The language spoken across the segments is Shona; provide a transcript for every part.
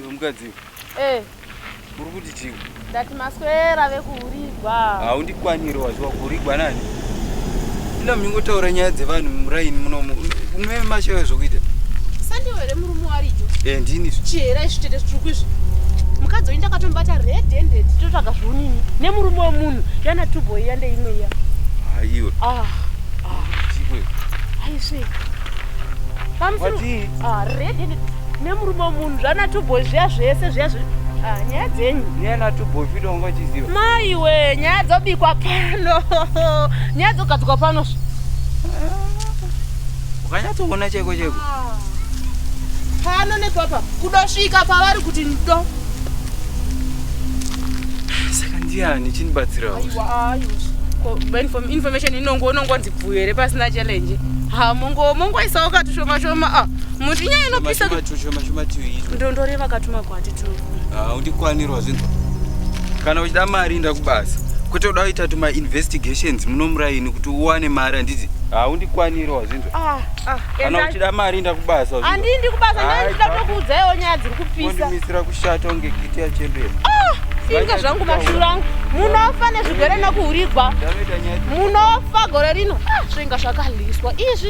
Iwe mukadzi iwe. Eh. Uri kuti chii? Ndati maswera ave kuhurigwa. Haundikwaniri waziwa kuhurigwa nani? Ina mingotaura nyaya dzevanhu muraini munomu. Unoe mashaya zvokuita. Sandiwe here murume warijo? Eh ndini. Chihera izvi tete zvitsvuku izvi. Mukadzi uyu ndakatombata red handed totsvaga zviunini nemurume wemunhu yana tubo iya ndeimwe iya. Haiwe. Ah. Ah. Chikwe. Haiswe. Pamusoro. What? Ah, red handed. nemurume wemunhu zvana tuboy zviya zvese zviya ah, nyaya dzenyu niyana tuboy fida wanga uchiziva maiwe nyaya dzobikwa pano nyaya dzogadzikwa pano ukanyatsoona chaiko chaiko ah. pano nepapa kudosvika pavari kuti ndo saka ndiyani chinibatsirawo information inongo unongonzi bvuyo here pasina challenge ha mongo mongoisawo katushoma shoma ah. muti nyaya inopisa ndondore vakatuma kwati tu ah, undikwanirwa zvinhu kana uchida mari inda kubasa kwete uda kuita tuma investigations muno muraini kuti uwane mari handiti haundikwanirwa ah, zvinhu ah, kana uchida mari inda kubasa handindi kubasa ndaida kutokuudzaiwo nyaya dziri kupisa ndimisira kushata unge giti yachembera inga zvangu mashura angu munofa nezvigwere nokuhurigwa munofa gore rino zvinga zvakaliswa izvi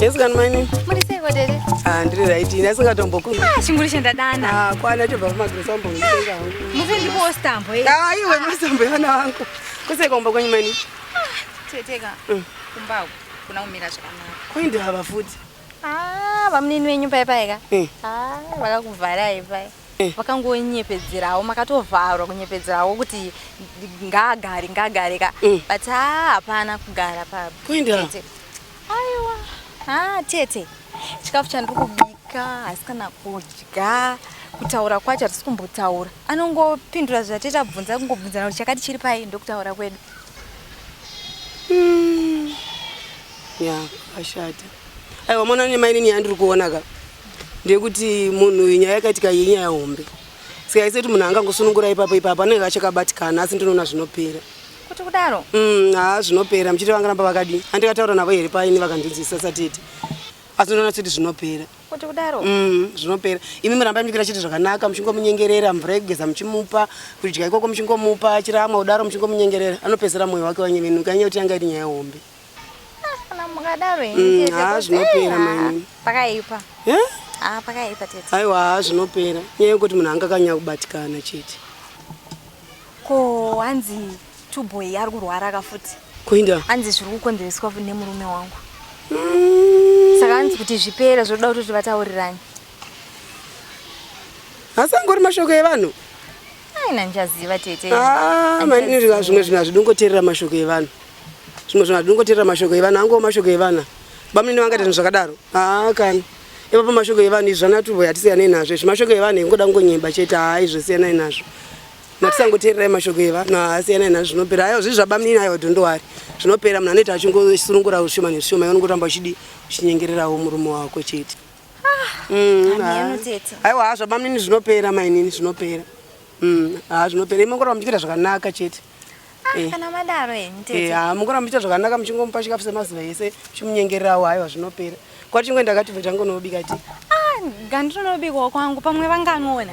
Yes, can my name? handiri right ini asingatombokuchinguri ah, chandadana ah, kwana chobva kumagresambo musi ndikuwo stambo eh? ah, iwe masambo evana vangu kuseka umba kwenyu mani teteka mm. kumbaku kuna kumira zvakanaka koindava futi Ah, bamunini venyu pai pai ka? Eh. Ah, vakakuvharai pai. Eh. Vakangonyepedzerawo makatovharwa kunyepedzerawo kuti ngaagare ngaagare ka. Eh. But ah, hapana kugara pa. Kuenda. Tete. Aiwa. Ah, tete. Chikafu chandiri kubika hasi kana kudya kutaura kwacho hatisi kumbotaura anongopindura zvatete abvunza kungobvunzana kuti chakati chiri pai ndokutaura kwedu mm. ya ashata aiwa mwana ne mainini yandiri kuona ka ndekuti munhu uyu nyaya yakaitika iyi nyaya hombe saka iseti munhu angangosunungura ipapo ipapo anenge achakabatikana asi ndinoona zvinopera kuti kudaro mm, haa zvinopera muchiti vangaramba vakadii andikataura navo here paini vakandinzwisa satete asi ndinoona sekuti zvinopera kuti kudaro mm, zvinopera imi murambai muchikuita chiti zvakanaka muchingomunyengerera mvura yekugeza muchimupa kudya ikoko muchingomupa achiramwa kudaro muchingomunyengerera anopedzera mwoyo wake wanyevenuka anyaya kuti yanga iri nyaya hombe kana mukadaro mm, haa zvinopera maini pakaipa haa pakaipa tete aiwa haa zvinopera nyaya yekuti munhu anga kanyanya kubatikana chete ko hanzi tuboy ari kurwara ka futi kuinda hanzi zviri kukonzereswa nemurume wangu mm. saka hanzi kuti zvipere zvoda kuti vatauriranyi asi angori mashoko evanhu Aina njaziva tete. Ah, maniri ka zvimwe zvinhu hazvidongoterera mashoko evanhu. Zvimwe zvinhu hazvidongoterera mashoko evanhu, hango mashoko evanhu. Bamnini vanga tinhu zvakadaro. Ah, kana. Ipa pa mashoko evanhu izvi zvana tuvo yatisiyane nazvo. Izvi mashoko evanhu ingoda ngonyemba chete ah izvo siyana nazvo. Matisangoterera mashoko evanhu ah siyana nazvo zvinopera. Ayo zvizva bamnini ayo dondo wari. Zvinopera munhu anoita achingosurungura ushoma neshoma yonongotamba uchidi chinyengererawo murume wako chete. aiwa hazvo bamnini zvinopera mainini zvinopera mm, haa zvinopera imongoramba muchiita zvakanaka chete ah, eh. kana madaro eh, haa mongoramba muchiita zvakanaka muchingomupa chikafu semazuva ese chimunyengererawo aiwa zvinopera kwati chingwe ndakati bva changu nobika ti ah, gandirinobikawo kwangu pamwe vanganoona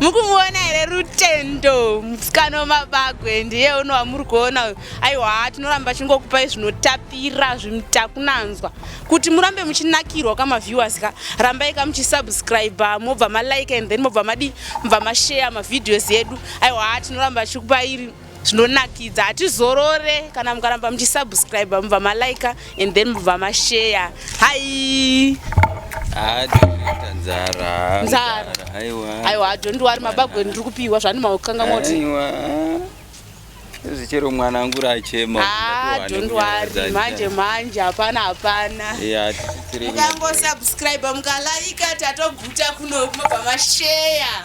mukumuona here rutendo musikano mabagwe ndiye uno wamuri kuona uyu aiwa tinoramba chingokupai zvinotapira zvimtakunanzwa kuti murambe muchinakirwa kamaviewers ka rambai ka muchisubscribe mobva malike and then mobva madii mobva mashare mavideos edu aiwa tinoramba chikupairi zvinonakidza hatizorore kana mukaramba muchisubscribe mubva malike and then mubva mashare hai nzara nzara aiwa adhondi wari mabagwe ndiri kupiwa zvani maukanga moti zvichero mwana angu rachema adhondi ah, wari manje manje hapana hapana mukangosubscribe mukalaika tatoguta kuno mabva masheya